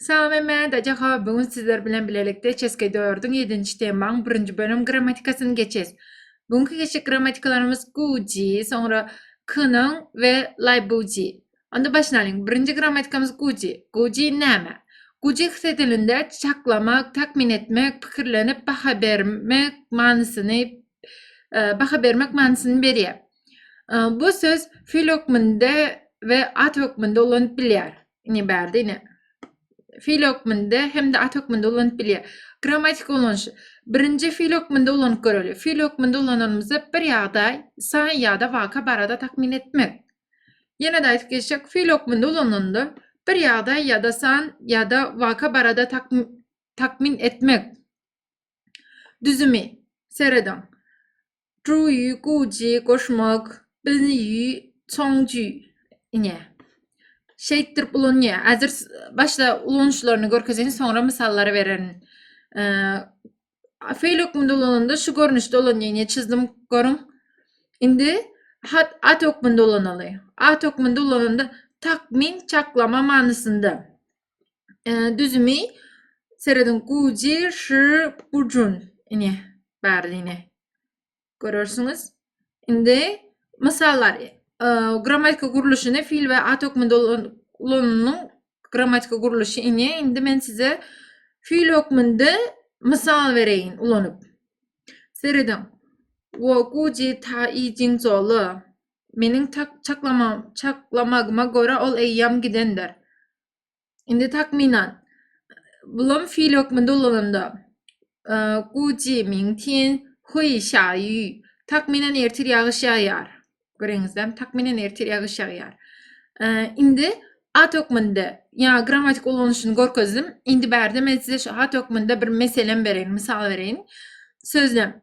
Salame Mäde Jahow Bugün sizler bilen bilelikde Çeske dördüň ýedinji temaň birinji bölüm grammatikasyny geçes. Bugünki geçjek grammatikalarymyz Guji, soňra Kynyň we Laýbuji. Onda başyny alyň. Birinji grammatikamyz Guji. Guji näme? Guji his edilinde çaklamak, takmyn etmek, pikirlenip baha bermek manysyny baha bermek manysyny berýär. Bu söz fil hökmünde we at hökmünde ulanyp bilýär. Ine bärde ine fil hökmünde hem-de at hökmünde ulanyp bilýär. Grammatik ulanyşy. Birinji fil hökmünde ulanyp göreli. Fil hökmünde ulananymyzda bir ýagdaý, san ýa-da waka barada takmyn etmek. Ýene-de aýdyp geçsek, fil hökmünde ulananda bir ýagdaý ýa-da san ýa-da waka barada takmyn etmek. Düzümi serediň. Juýi, guji, goşmak, bilniýi, çoňjy, ine. Şeýtdirip ulanýar. Häzir başda ulanyşlaryny görkezeýin, soňra mysallary bererin. Feýl hökmünde ulananda şu görnüşde ulanýar. Ine çizdim, görüň. Indi hat at hökmünde ulanaly. At hökmünde ulananda takmyn, çaklama manysynda. düzümi serediň guji şi bujun ine bari ine görürsüňiz indi mysallar grammatika gurluşyny fil we at hökmünde ulanynyň grammatika gurluşy ine indi men size fil hökmünde mysal bereýin ulanyp serediň wo guji ta i jin zolu Meniň çaklamagyma görä ol eýýäm gidendir. Indi takmynan, bulam fiil hökmünde ulananda, guji ming tian hui xia yu, takmynan ertir ýagyş ýagýar. Göreňizde, takmynan ertir ýagyş ýagýar. Indi at hökmünde, ýa grammatik ulanyşyny görkezdim. Indi bärde men size şu at hökmünde bir meselem bereýin, mysal bereýin. Sözlem.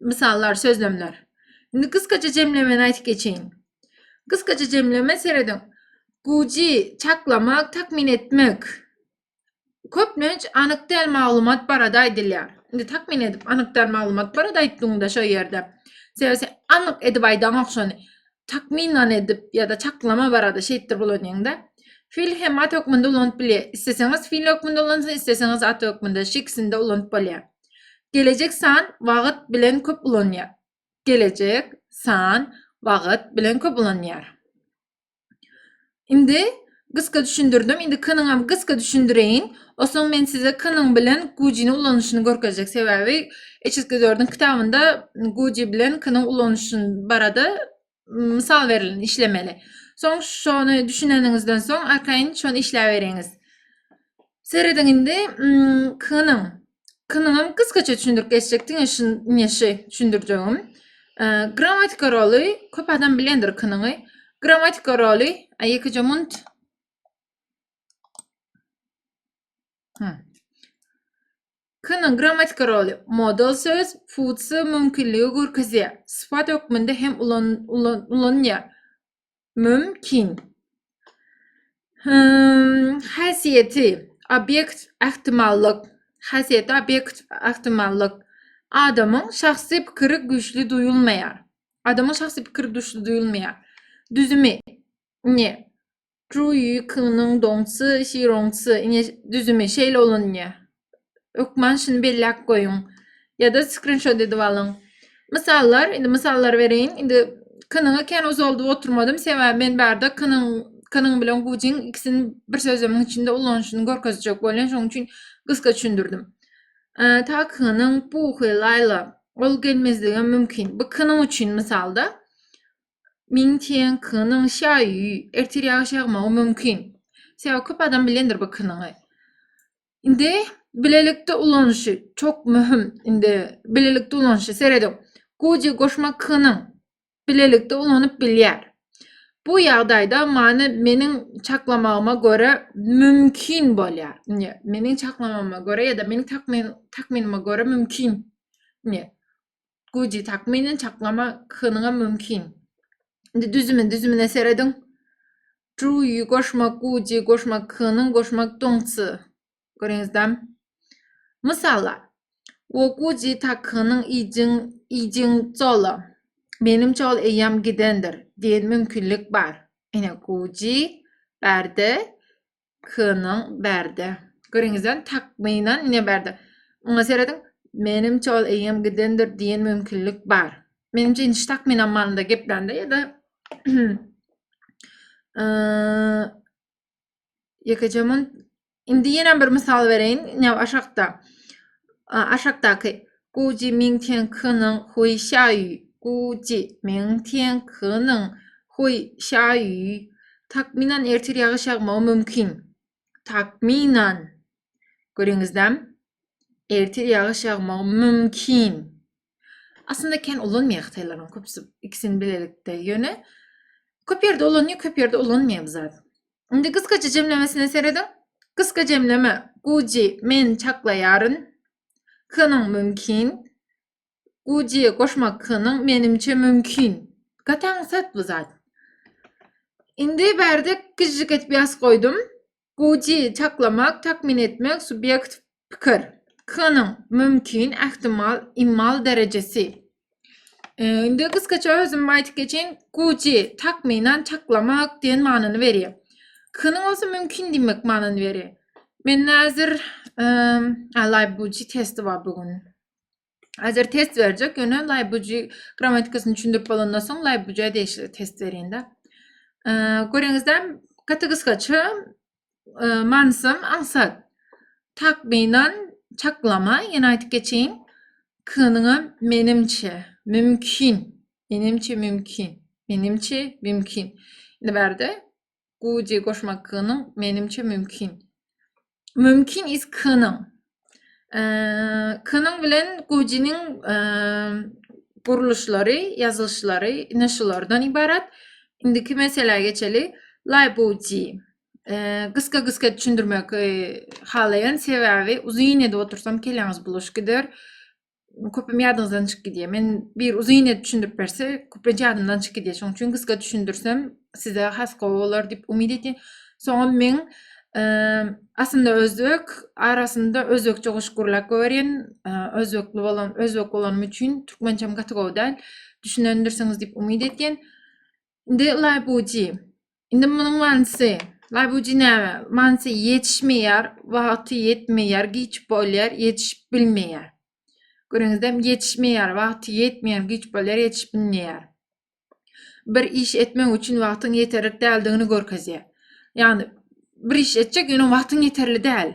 Mysallar, sözlemler. Indi gysgaça jemlemeni aýdyp geçeýin. Gysgaça jemleme serediň. Guji, çaklamak, takmyn etmek. Köplenç anyk däl maglumat barada aýdylýar. Indi takmyn edip anyk däl maglumat barada aýtdyňda şo ýerde. Sebäbi anyk edip aýdaňok şony. Takmynan edip ýa-da çaklama barada şeýtdir bulanýaňda. Fil hem at hökmünde ulanyp bilýär. Isleseňiz fil hökmünde ulansa, isleseňiz at hökmünde, şu ikisinde ulanyp bolýar. Gelejek san wagt bilen köp ulanýar. Gelejek san wagt bilen köp ulanýar. Indi gysga düşündirdim. Indi k-nyň hem gysga düşündireýin. Osoň men size k-nyň bilen gujini ulanyşyny görkezjek. Sebäbi HSG4-iň kitabynda guji bilen k-nyň ulanyşyny barada mysal berileni işlemeli. Soň şony düşüneniňizden soň arkaýyn şony işläberiňiz. Serediň indi kynyň. Kynyňam gysgaça düşündirip geçjek diňe şu neşe düşündirjegim. Grammatika roly köp adam bilendir kynyňy. Grammatika roly, a ýekeje munt K-nyň grammatika roly modal söz, futsy mümkinligi görkezýär. Sypat hökmünde hem ulanylýar. Mümkin. Häsiýeti obýekt ähtimallyk. Häsiýeti obýekt ähtimallyk. Adamyň şahsy pikiri güýçli duýulmaýar. Adamyň şahsy pikiri güýçli duýulmaýar. Düzümi ne? Truýykynyň doňçy, şiroňçy, ine, düzümi şeýle ulanýar. Hökman şuny belläp goýuň. Ýa-da skrinşot edip alyň. Mysallar, indi mysallar bereýin. Indi kynyňy kän uzaldyp oturmadym, sebäbi men barda kynyň kynyň bilen gujiň ikisini bir sözlemiň içinde ulanyşyny görkezjek bolýan, şonuň üçin gysga düşündirdim. Takynyň puhy, laýla. Ol gelmezligem mümkin. Bu kynyň üçin mysal-da. Min Tian Kynyň Şaýu, ertir ýagyş ýagmagy mümkin. Sebäbi köp adam bilendir bu kynyňy. Indi bilelikde ulanyşy çok möhüm. Indi bilelikde ulanyşy serediň. Guji goşma kynyň bilelikde ulanyp bilýär. Bu ýagdaýda many meniň çaklamagyma görä mümkin bolýar. Indi meniň çaklamama görä ýa-da meniň takmynyma görä mümkin. Indi güýji takmynan çaklama kynyňam mümkin. Indi düzümin düzümine serediň. Truýy goşmak güýji goşmak kynyň goşmak doňçy. Görüňizden. Mysala, o güýji takynyň iýjiň iýjiň çola. Benim çol eýýam gidendir diýen mümkinlik bar. Ine güýji bärde K-nyň bärde. Görüňizden takmynan ne bärde. Muňa serediň. Menimçe ol eýýäm gidendir diýen mümkinlik bar. Menimçe indi takmynan manynda geplände ýa-da ýekeje mun indi ýene bir mysal bereýin, ine aşakda. Aşakdaky Guji Ming Tian Keniň Hui Şaýu, Guji Ming Tian Keniň Hui Şaýu, Takmynan ertir ýagyş ýagmagy mümkin. Takmynan. Göriňizdem? Ertir ýagyş ýagmagy mümkin. Aslynda kän ulanmaýar hytaýlaryň köpüsi ikisini bilelikde. Ýöne köp ýerde ulanýar, köp ýerde ulanmaýar bu zat. Indi gysgaça jemlemesine serediň. Gysga jemleme, Guji men çaklaýaryn. K-nyň mümkin. Gujy goşmak K-nyň menimçe mümkin. Gataň sat bu zat. Indi bärde gyjyk edip ýaz goýdum. Gujy çaklamak, takmin etmek, subýekt, pikir. K-nyň mümkin, ähtimal, immal derejesi. Ee, indi gysgaça özüm aýdyp geçen. Guji takmynan çaklamak diýen manyny berýär. Kynyň bolsa mümkin diýmek manyny berýär. Men häzir eee Laýbuji testi bar bu gün. Häzir test berjek, ýöne Laýbuji grammatikasyny düşündirip bolandan soň Laýbuji degişli test berýän-de. Eee, görýäňizde, gaty gysgaça manysam aňsat. Takmynan çaklama, ýene aýdyp geçeýin. K-nyňam menimçe, mümkin. Menimçe mümkin. Menimçe mümkin. Indi bärde guji goşmak k-nyň menimçe mümkin. Mümkin is k-nyň. K-nyň bilen Gujiniň gurluşlary, ýazylyşlary ine şulardan ibarat. Indiki meselä geçeli. Laýbuji. Gysga-gysga düşündirmek halaýan sebäbi uzyn edip otursam keläňiz buluş gider. köpem ýadyňyzdan çykyp gidýär. Men bir uzyn edip düşündirip berse, köplenç ýadymdan çykyp gidýär. Şonuň üçin gysga düşündirsem, size has gowy bolar diýip umyt edýän. Soňam men aslynda özbek, arasynda özbekçe goşgy gürläp goýberýän. Özbekli bolan, özbek bolanym üçin türkmençem gaty gowy däl. Düşünendirsiňiz diýip umyt edýän. Indi laýbuji. Indi munuň manysy, laýbuji näme? Manysy ýetişmeýär, wagty ýetmeýär, giç bolýar, ýetişip bilmeýär. Görüňizem, ýetişmeýär, wagty ýetmeýär, giç bolýar, ýetişip bilmeýär. Bir iş etmek üçin wagtyň ýeterlik däldigini görkezýär. Ýagny bir iş etjek, ýöne wagtyň ýeterli däl.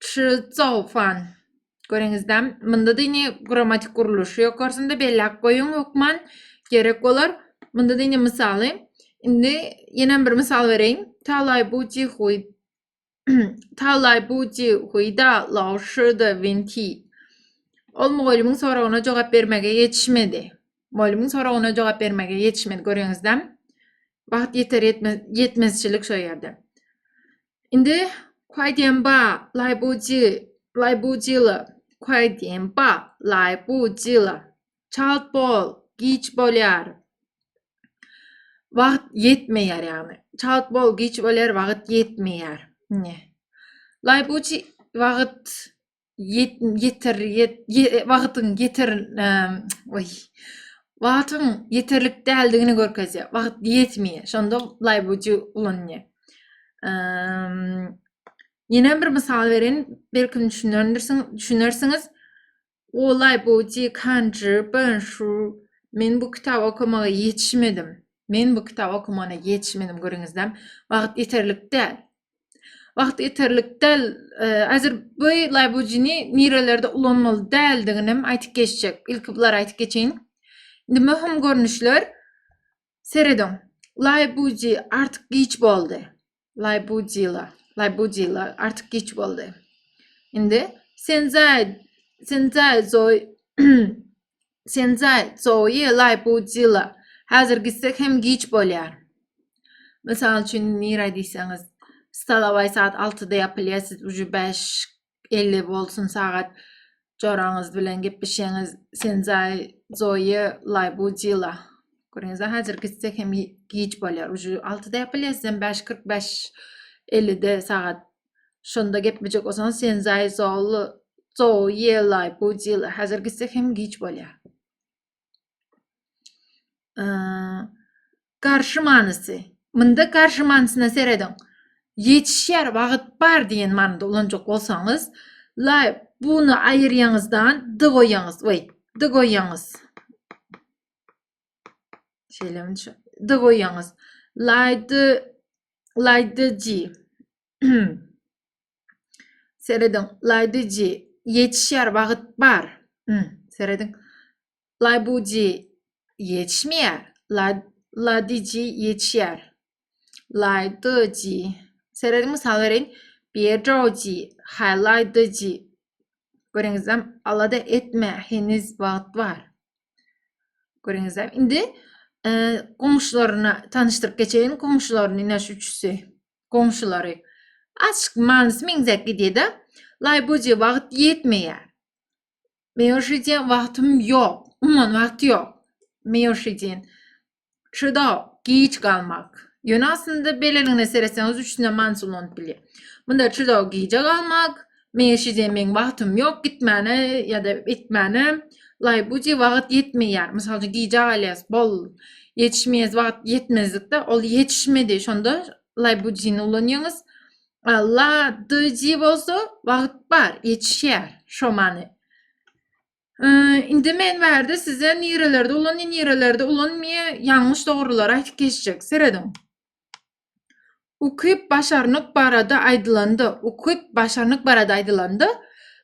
Çyzofan. Görüňizde, munda dini grammatik gurluşy ýokarsynda belläp goýuň hökman gerek bolar. Munda dini mysaly. Indi ýene bir mysal bereýin. Talay bu cihuy Talay bu cihuyda lawşyda vinti. Ol mugallymyň soragyna jogap bermege ýetişmedi. Mugallymyň soragyna jogap bermege ýetişmedi. Görüňizde, wagt ýeter ýetmezçilik şo ýerde. Indi Kuaýdiýenba, Laýbuji, Laýbujila, Kuaýdiýenba, Laýbujila. Çalt bol, giç bolýar. Wagt ýetmeýär ýagny. Çalt bol, giç bolýar, wagt ýetmeýär. Ne? Laýbuji wagt ýeter wagtyň ýeter oý wagtyň ýeterlik däldigini görkezýär. Wagt ýetmeýär. Şonda laýbuju ulanýar. Ýene bir mysal berin, belki düşünendirsiň, düşünersiňiz. O laýbuju kanjy ben şu men bu kitaby okamaga ýetişmedim. Men bu kitaby okamana ýetişmedim görüňizden. Wagt ýeterlik däl. Wagt ýeterlik däl. Azir bu laýbujini nirelerde ulanmaly däldigini hem aýtyp geçjek. Ilki bulary aýtyp geçeýin. Indi möhüm görnüşler. Serediň. Laýbuji artyk giç boldy. Laýbujila, laýbujila artyk giç boldy. Indi senzai, senzai zoi Sen zay, zoe, lay, bu, zila. Häzir gitsek hem giç bolýar. Mysal üçin, nirä diýseňiz, stolowaý saat altyda ýapylýar, siz uje bäş elli bolsun sagat joraňyz bilen gepleşýäňiz. Sen zay, zoe, lay, bu, zila. Görüňiz, häzir gitsek hem giç bolýar. Uje altyda ýapylýar, siz hem bäş kyrk bäş ellide sagat Şonda gepmejek bolsaň sen zaý zol zol ýelaý budil hazir gitse hem giç bolýa. Garşy manysy. Munda garşy manysyna serediň. Ýetişýär wagt bar diýen manyda ulanjak bolsaňyz, laý buny aýyrýaňyzdan dy goýýaňyz, we dy goýýaňyz. Şeýle şu d goýýaňyz. Lady Lady G. Serediň. Lady G. Ýetişýär, wagt bar. Hmm. Serediň. Lady G. Ýetişmeýär. Lady G. Ýetişýär. Laýdyjy. Serediň mysal bereýin. Berjoji, haýlaýdyjy. Görüňizem, alada etme, heniz wagt bar. Görüňizem, indi e, goňşularyna tanyşdyryp geçeýin, goňşularyny ine şu üçüsi, goňşulary. Açyk manysy meňzäp gidýär-de. Laýboji wagt ýetmeýär. Meýoşidýen wagtym ýok, umuman wagty ýok. Meýoşidýen. Şurada giç galmak. Ýöne aslynda beleligne seretseňiz üçüne manyş ulanyp bilýär. Munda şurada gije galmak. Meň şije meň wagtym ýok gitmäne ýa-da etmäne. Laý bu je wagt ýetmeýär. Mysal üçin gije galýas. Bol. Ýetişmeýäs wagt ýetmezlikde ol ýetişmedi. Şonda laý bu jini ulanýaňyz. La dy ji bolsa wagt bar, ýetişýär. Şo many. Indi men bärde size nirelerde ulan, nirelerde ulanmaya yanlış doğrular aytıp geçecek. Seredin. Ukyp başarnyk barada aýdylanda, ukyp başarnyk barada aýdylanda,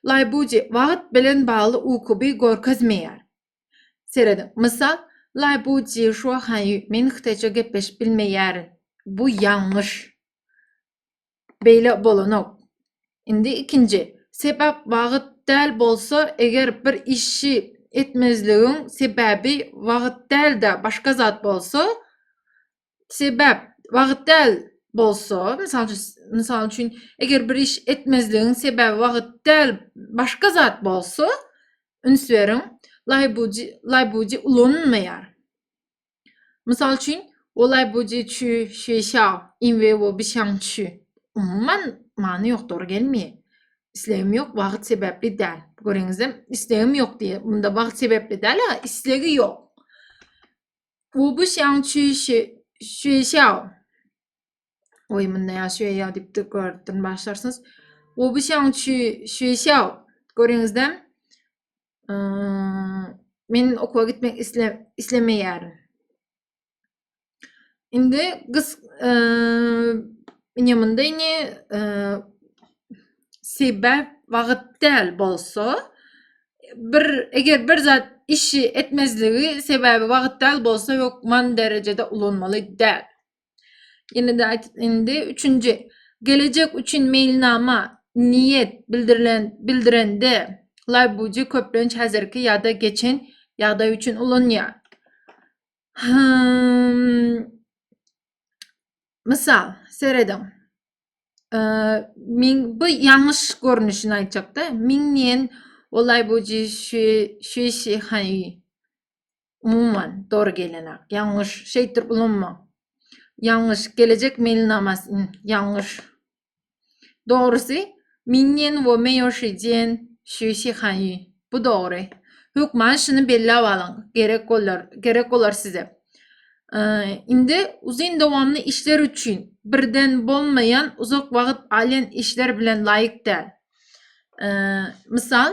laýbuji wagt bilen bagly ukyby görkezmeýär. Seredin. Mysal, laýbuji şu haýy men hytaýça gepleşip bilmeýärin. Bu yanlış. beýle bolanok. Indi ikinji sebäp wagt däl bolsa eger bir işi etmezligiň sebäbi wagt däl-de başga zat bolsa, sebäp wagt däl bolsa, mysal üçin, mysal üçin eger bir iş etmezligiň sebäbi wagt däl başga zat bolsa, üns beriň, laýbuji, laýbuji ulanylmaýar. Mysal üçin, Olaý buji çü şü şao, in we wo bi şang çü. Umuman, many ýok, dogry gelmeýär. Islegim ýok, wagt sebäpli däl. Göreňizem, islegim ýok diýýär. Munda wagt sebäpli däl-a, islegi ýok. Wo bi şang çü şü şü şao. Oý, munda ýa şü ýa diýip tekrardan başlarsyňyz. Wo bi şang çü şü şao. Göreňizem, Men okuwa gitmek islemeýärin. Indi gyz indi munda indi sebäp wagt däl bolsa bir eger bir zat işi etmezligi sebäbi wagt däl bolsa hökman derejede ulanmaly däl. Ýene-de aýdyp indi üçünji gelejek üçin meýilnama, niýet bildirilen bildirende laýbuji köplenç häzirki ýa-da geçen ýagdaý üçin ulanýar. Mysal, serediň. Min bu ýalňyş görnüşini aýtjakda. Min niýen o laýbuji şi şi şi haý. umuman, dogry gelenak, ýalňyş, şeýtdir ulanmaň, ýalňyş, gelejek meýilnamasy, ýn, ýalňyş. Dogrusy, Minniýen wo meýoşi jiýen şü şi han ýü. Bu dogry. Hökman şuny belläp alyň, gerek bolar, gerek bolar size. Ýy, indi uzyn dowamly işler üçin, birden bolmaýan, uzak wagt alýan işler bilen laýyk däl. Ýy, mysal,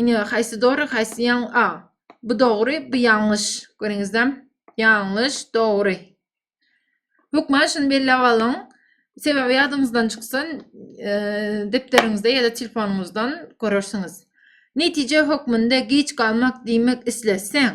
Ine haýsy dogry, haýsy ýaň a. Bu dogry, bu ýalňyş. Görüňizde? Ýalňyş, dogry. Hökman şuny belläp alyň. Sebäbi ýadyňyzdan çyksa, e, depderiňizde ýa-da telefonyňyzdan görersiňiz. Netije hökmünde geç galmak diýmek isleseň,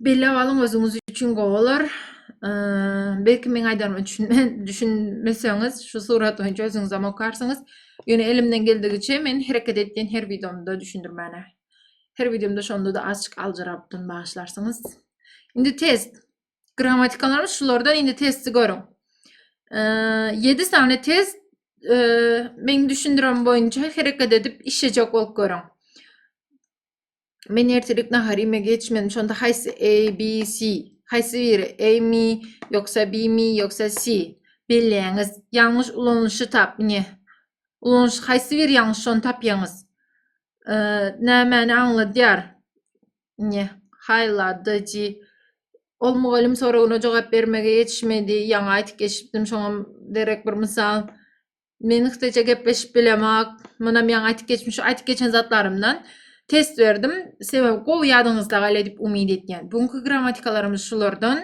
Bellep alyň özüňiz üçin gowy bolar. Belki meň aýdanym üçin düşünmeseňiz, şu surat boýunça özüňizem okarsyňyz. Ýöne elimden geldigiçe men hereket etdiýän her wideomda düşündirmäne. Her wideomda şonda-da azçyk aljyrapdym, bagyşlarsyňyz. Indi test. Grammatikalarym şulardan indi testi görüň. 7 sany test meň düşündirem boýunça hereket edip işlejek bolup görüň. Men ertirlik nahar iýmegi geçmedim. Şonda haýsy A, B, C? Haýsy biri? A mi, ýoksa B mi, ýoksa C? Belleýäňiz. Ýalňyş ulanylyşy tap. Ine. Ulanyş haýsy biri ýalňyş şony tapýaňyz. Nämäni aňladýar? Ine. Haýladyjy. Ol mugallym soragyna jogap bermege ýetişmedi. Ýaňy aýdyp geçipdim, şoňa derek bir mysal. Men Hytaýça gepleşip bilemok. Munam ýaňy aýtyp geçmiş, şu aýtyp geçen zatlarymdan test berdim. Sebäbi gowy ýadyňyzda galar diýip umyt edýän. Bugünki grammatikalarymyz şulardan.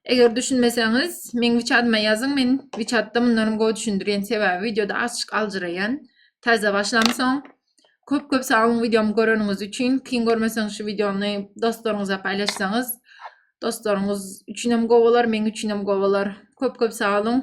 Eger düşünmeseňiz, meň wiçadyma ýazyň. Men wiçatda mundanam gowy düşündirýän. Sebäbi wideoda azçyk aljyraýan. Täze başlamsoň. Köp köp sag boluň wideomy göreniňiz üçin. Kyn görmeseňiz şu wideony dostlaryňyza paýlaşsaňyz, dostlaryňyz üçinem gowy bolar, meň üçinem gowy bolar. Köp köp sag boluň.